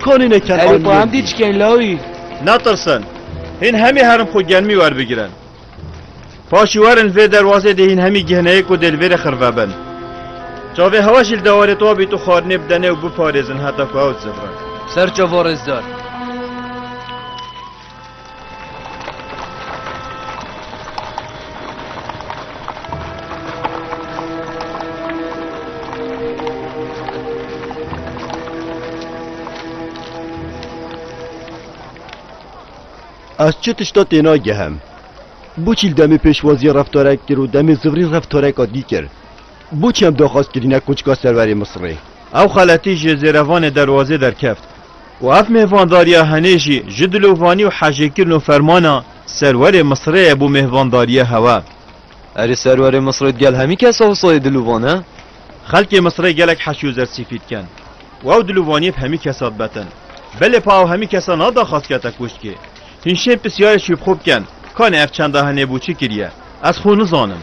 Konî ne ken Erê xwe hem dî çikên lawî. Natirsin. Hîn hemî herin xwe gelmî werbigirin. Paşî werin vê derwazê dê hîn hemî gihneyê ku dê li vêrê xirve bin. Çavê hewa jî li dewarê to bît û xwarinê bidenê û biparêzin heta ku ew dizivrin. Serçe vorêzdar. Ez çi tişta têna gehem. Boçîl demê pêşwaziya reftarek kir û demê zivrî reftareka dî kir. Boçî em daxwaz kirîne koçka serverê Misirê. Ew xeletî ji zêrevanê derwazê derkeft. Û ev mêhvandariya henê jî ji dilovanî û hejêkirin û fermana Serwerê Misirê ye bo mêhvandariya hewa. Erê Serwerê Misirê digel hemî kes a Husayê dilovan e? Xelkê Misirê gelek heşî û zersîfî dikin û ew dilovaniyê bi hemî kesa dibetin. Belê pa ew hemî kesa nada xas kete kûşkê. Hîn şên pisyarê şî bi xwe bikin, kanê ev çenda henê bo çi kiriye? Ez xwe nizanim.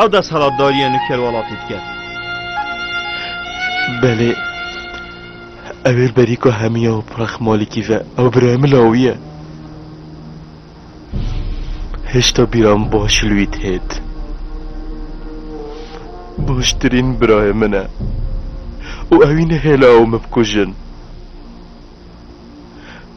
Ew desthilatdariya nûker welatê dike. Belê, ew ê li berîka hemiya û pirax Malikî ve. Ew birayê min lawî ye. Hêşta bîra min baş li wî têt. Baştirîn birayê min e. Û ewî nehêle ew min bikujin.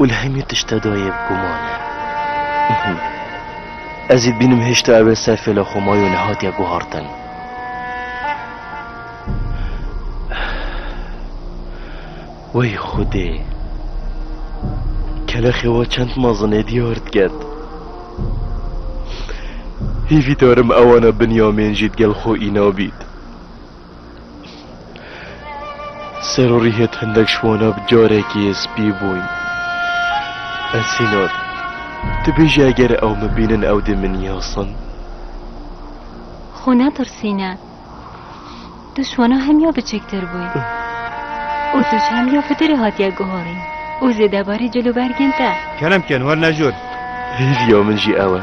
û li hemî tişta de yê bi guman e. Ez ê dibînim hêşta ew ê ser fêla xwe maye û nehatiye guhartin. Wey xwedê! Kelexê we çend mezin ê diyar diket. Hêvî darim ewana Binyamên jî digel xwe îna bît. Ser û rîhê hindek ji wana bi carekî spî bûn. Esînor, tu bêjî eger ew min bînin ew dê min yasin? Xwe netirsîne. Tu ji wana hemya biçiktir bû û tu ji hemya fitirê hatiye guharîn û zêdebarî cil û bergên te. Kerem ken wer nejor. Hêviya min jî ew e.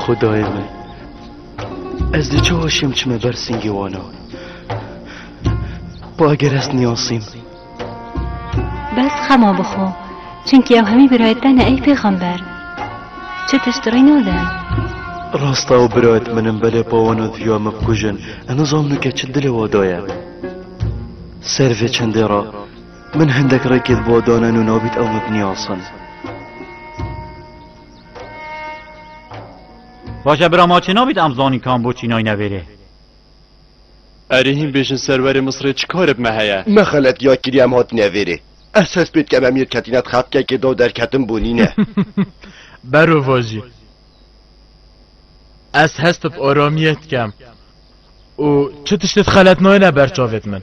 Xudayê me Ez di çi hoşim çime ber singê wana Xwe eger ez niyasîm Bes xema bixwe Çimkî ew hemî birayet te ne ey pêxember Çi tişt rê nade Rasta û birayet min in belê pawana diya me bikujin Ez nizamnu ke çi dilê wa daye Ser vê çendê ra Min hindek rêkê di bo dane nû nabît ew min binyasin. Baş e bira ma çê nabît em zanîn kan bo çînay nevêrê. Erê hîn bêjin serwerê Misirê çi karê bi me heye? Me xeletiya kiriye em hatine vêrê. Ez hest pê dikem em yê ketîne di xefkekê de û derketin bûnî ne. Bero vajî. Ez hest bi aramiyê dikem û çi tiştê di xeletnayê ne ber çavê di min.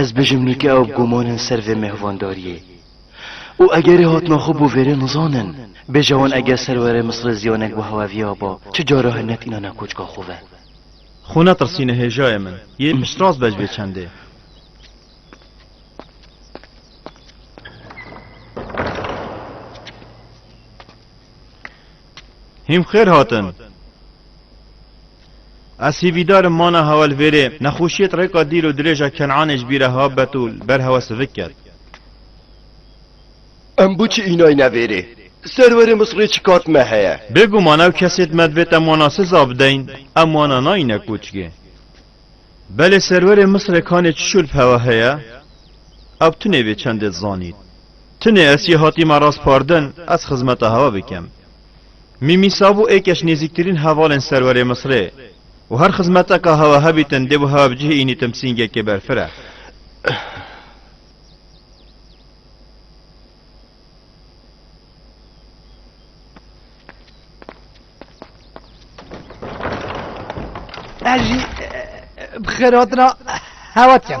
Ez bijim nûke ew gûman in ser vê mêhvandariyê. Û egerê hatina xwe bo vêrê nizanin, bêje wan eger ser werê Misirê ziyanek bo hewe viya ba, çi cara he netînane koçka xwe ve. Xwe netirsîne hêjayê min, yê piştrast be ji vê çendê. Hîm xêr hatin. Ez hîvîdar im mana hewelvêrê, nexweşiyê di rêka dîl û dirêja Ken'anê ji bî re habet û li ber hewe sivik ket. Em boçi înayi nevêrê? Serwerê Misirê çi kar di me heye? Bêguman ew kesê di me divê te mana siza bideyn, em wana nayîne koçgê. Belê serwerê Misirê kanê çi şûl bi hewe heye? Ew tu nêvê çendê dizanît. Tunê ez çê hatî me rast pardin, ez xizmeta hewa bikim. Mîmî Sabû ê keş nêzîktirîn hevalên serwerê Misrê û her xizmeteka hewa hebîtin dê bo hewa bi cihê înî timsîngekê berfire. Ez jî bi xêr hatina hewa dikim.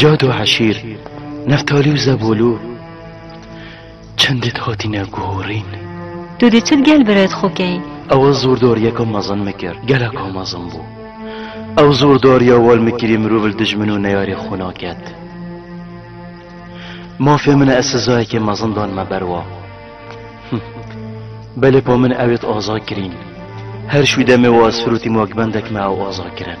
Cad û Eşîr, Neftalî û Zebolû çend dit hatîne guhorîn. Tu dê çi gel biret xwe key? Ewa zordoriyeke mezin mikir, geleka mezin bû. Ew zordariya wal mikirî mirov li dij min û neyarê xwe naket. Mafê min ez sizayekê mezin dan me ber wa. Belê pa min ew êt aza kirîn. Her şû demê wa ez firotîm wek bendek me ew aza kirin.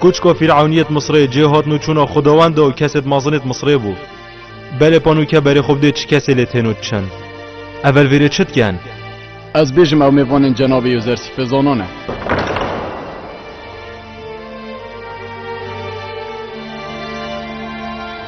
Kuçko Fîr'ewnîyet Misrê cê hatin û çûna xwedawende û kesêd mazinêd Misrê bû. Belê panûke berê xwe bidê çi kesê lê tên û çin. Evel vêrê çi diken? Ez bêjim ew mêvanên cenabê Yûzersîfê zanan e.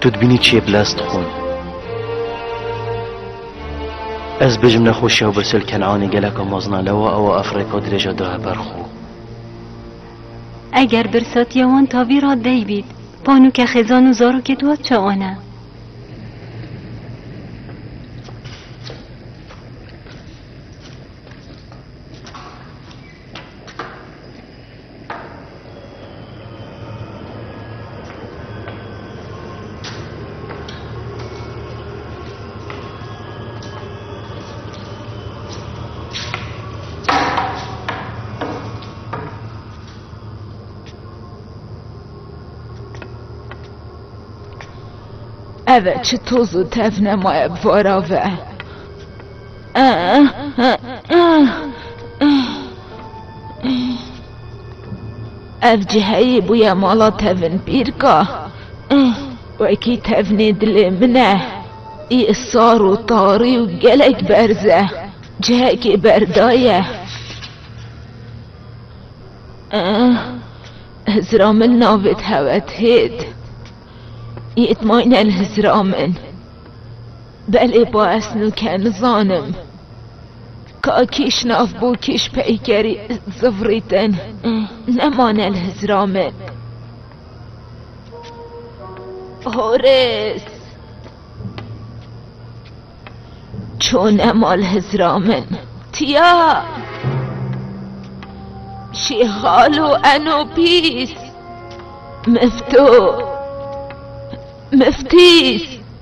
Tu dibînî çiyê bi lez dixwin. Ez bijim nexweşiya û birsel Kenanê geleka mezina lewa ewa ev rêka dirêja daye ber xwe. Eger birsatiya wan tavî ra dey bît, panûke xêzan û zarokê tu hat çaane. Eve çi toz û tevnema ye bi vara ve. Ev ciheyê bûye mala tevin pîrka. Wekî tevnê dilê min e. Î sar û tarî û gelek berz e. Cihekê berda ye. Hizira min navê Tewethêd. Yê tmayne li hizira min. Belê baes nûke nizanim ka kîş nav bo kîş peykerî zivrîtin nemane li hizra min. Horês! Ço nema li hizra min. Tiya! Şîxalo eno pîs! Mifto! Miftîs!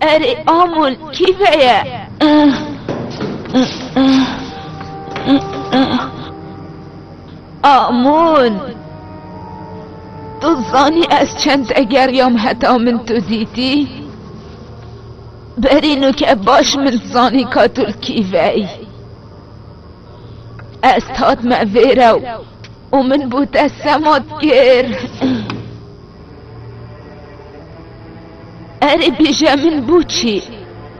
Erê Amûl kî veye? Amûl! Tu zanî ez çend egeriyam heta min tu dîtî? Berî nûke baş min zanî ka tu li kî veyî. Ez hatme vêre û Û min bo te sema dikir. Erê bêje min bo çi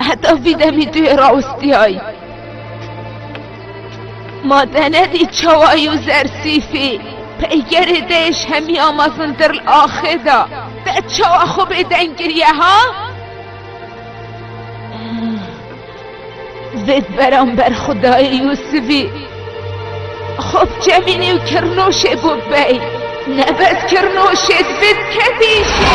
heta vî demî tu yê rawistiyayî. Ma te nedî çawa yû zersîfî peykerê te yê ji hemî ya mezintir li axê de te çawa xwe bêdeng kiriye ha? Zêd beramber xudayê Yûsivî xwe bi çemînê û kirnoşê bû bey. Nebez kirnoşê divê dikevî jê.